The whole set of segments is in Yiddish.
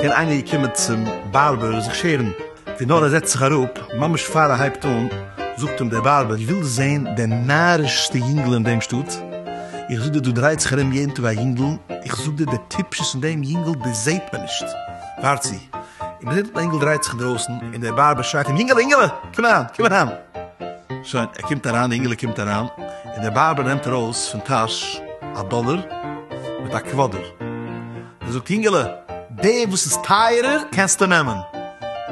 קען איינער געקומען צום בארבער זיך שערן? ווי נאר ער זעצט זיך אראפ, ממש פאר ער הייבט אן, זאגט אים דער בארבער, ווילסט זען די נארישסטע יונגעלע אין דעם שטאט? איך זאג דיר דא דרייט זיך ארום יעדן טאג א יונגעל, איך זאג דיר די טיפשות אין דעם יונגעל דאס זעט מען נישט, ווארט צו, און מען זעט דעם אינגעל דרייט זיך דרויסן און דער בארבער שרייט אים אינגעלע אינגעלע קום אריין קום אריין שוין ער קומט אריין די אינגעלע קומט אריין און דער בארבער נעמט ארויס פון טאש א דאלער מיט א קוואדער און זאגט אינגעלע די וואס איז טייערער קענסטו נעמען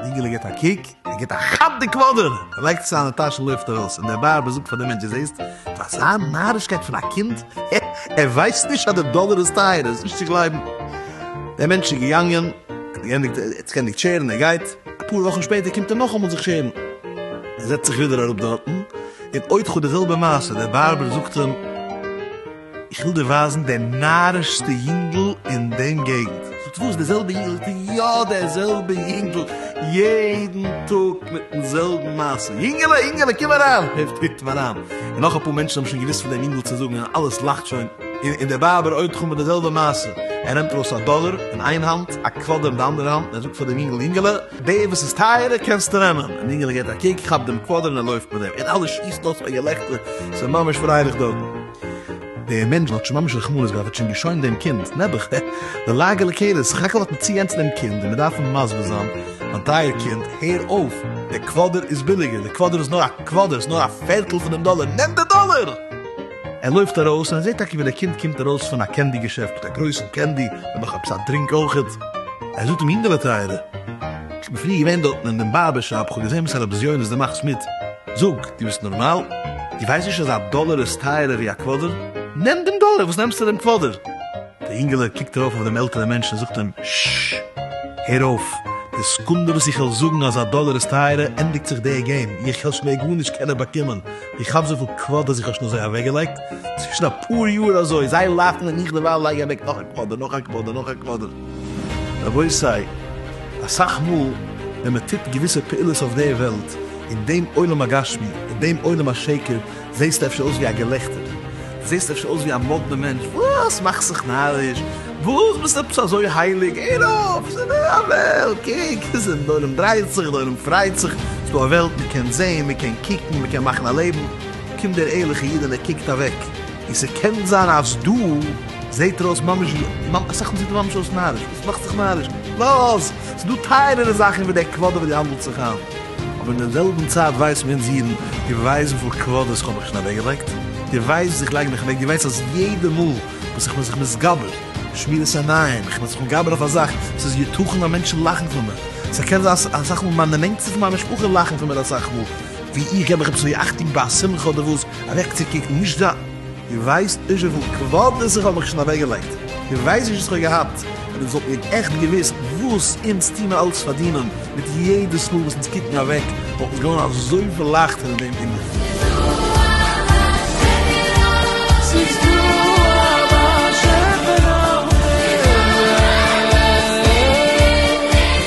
די אינגעלע גיט א קוק. ער גיט א כאפ די קוואדער, ער לייגט עס אריין אין טאש און לויפט ארויס, און דער בארבער זאגט פאר דעם מענטש, דו זעסט? אויף אזא נארישקייט פון א קינד, הע, ער ווייסט נישט אז די דאלער איז טייער, ער איז נישט צו גלייבן. דער מענטש איז געגאנגען, ער האט געענדיגט, ער האט זיך געענדיגט שערן, ער גייט, אפאר וואכן שפעטער קומט ער נאכאמאל זיך שערן, ער זעצט זיך ווידער אראפ דארטן, און עוד חו די זעלבע מעשה, דער בארבער זאגט אים, איך וויל דיר ווייזן די נארישסטע יונגל אין דעם געגנט. זאגט וואס? די זעלבע יונגל? זאגט ער, יא די זעלבע יונגל, יעדן טאג מיטן זעלבן מעשה, יונגעלע יונגעלע קום אריין, און טריט אים אריין, און נאך אפאר מענטשן האבן שוין געוואוסט פון דעם יונגל צו זאגן, און אלעס לאכט שוין, און דער בארבער עוד חו מיט די זעלבע מעשה, ער נעמט ארויס א דאלער אין איין האנט, א קוואדער אין די אנדערע האנט, און ער זאגט פאר דעם יונגל, יונגעלע, די וואס איז טייערער קענסטו נעמען, און יונגעלע געבט א קוק, כאפט דעם קוואדער און ער לויפט מיט דעם, און אלע שיסן אויס פאר געלעכטער, ס'איז ממש פרייליך דארטן. דער מענטש האט שוין ממש רחמנות געהאט, האט שוין געשוינט דעם קינד, נעבעך, די לאגע לקויות, סך הכל האט מען צוגענצן דעם קינד און מען דארף אים מסביר זיין, מיין טייער קינד, הער אויף, דער קוואדער איז ביליגער, דער קוואדער איז נאר א קוואדער, ס'איז נאר א פערטל פון דעם דאלער, נעם די דאלער! ער לויפט ארויס און ער זעט טאקע ווי דער קינד קומט ארויס פון א קענדי געשעפט מיט א גרויסן קענדי און נאך עפעס א דרינק אויכעט, ער זאגט אים, יונגעלע טייערע, איך בין פריער געווען דארטן אין דעם בארבער שאפ, איך האב געזען וואסארא בזיונות דו מאכסט מיט. זאג, דו ביסט נארמאל? דו ווייסט נישט אז א דאלער איז טייערער ווי א קוואדער? נעם דעם דאלער, וואס נעמסטו דעם קוואדער? דער אינגעלע קוקט ארויף אויף דעם עלטערן מענטשן און זאגט אים, ששש! הער אויף! די סעקונדע וואס איך וועל זאגן אז א דאלער איז טייערער, ענדיגט זיך דער געים, איך העל שוין מער גארנישט קענען באקומען, איך האב אזויפיל קוואדערס איך האב שוין אזוי אוועקגעלייגט, צווישן אפאר יאר אזוי, זיי לאכן און איך דערווייל לייג אוועק נאך א קוואדער, נאך א קוואדער, נאך א קוואדער. רבותי, אסאך מאל ווען מען טוט געוויסע פעולות אויף דער וועלט, אין דעם עולם הגשמי, אין דעם עולם השקר, זעסטו אפשר אויס ווי א געלעכטער, זעסט אפשר אויס ווי א מאדנע מענטש, וואס מאכסט זיך נאריש, וואס ביסט עפעס אזוי הייליג, הער אויף, עס איז נאר א וועלט, קוק, די עולם דרייט זיך, די עולם פרייט זיך, עס איז דא א וועלט, מען קען זען, מען קען קוקן, מען קען מאכן א לעבן, קומט דער ערליכער איד און ער קוקט אוועק, און ס'קען זיין אז דא. זעט ער אויס ממש ווי ממ אסאך מאל זעט ער ממש אויס נאריש וואס מאכט זיך נאריש לאז ס'דא טייערערע זאכן ווי דער קוואדער וואס דו האנדלט זיך איין אבער אין דער זעלבן צייט ווייסן מיר אונז אידן דו ווייסט וויפיל קוואדערס כ'האב מיך שוין אוועק געלייגט? דו ווייסט וואס איך לייג מיך אוועק? דו ווייסט אז יעדע מאל וואס איך בין זיך מתגבר שמירת עיניים איך בין זיך מתגבר אויף א זאך ס'איז יתכן אז מענטשן לאכן פון מיר ס'קען זיין אז אסאך מאל מיינע נענטסטע פון מיין משפחה לאכן פון מיר אסאך מאל ווי איך געב מיך עפעס ווי אכטונג ביי א שמחה אדער וואס אוועקצוקוקן נישט זיין דו ווייסט נישט וויפיל קוואדערס איך האב מיך שוין אוועקגעלייגט, דו ווייסט נישט וואס איך האב געהאט, ווען אונז וואלטן מיר עכט געוואוסט וואס אונז טוהן אלץ פארדינען, מיט יעדעס מאל וואס אונז קוקן אוועק וואלט אונז געווארן אזויפיל לייכטער אין דעם ענין.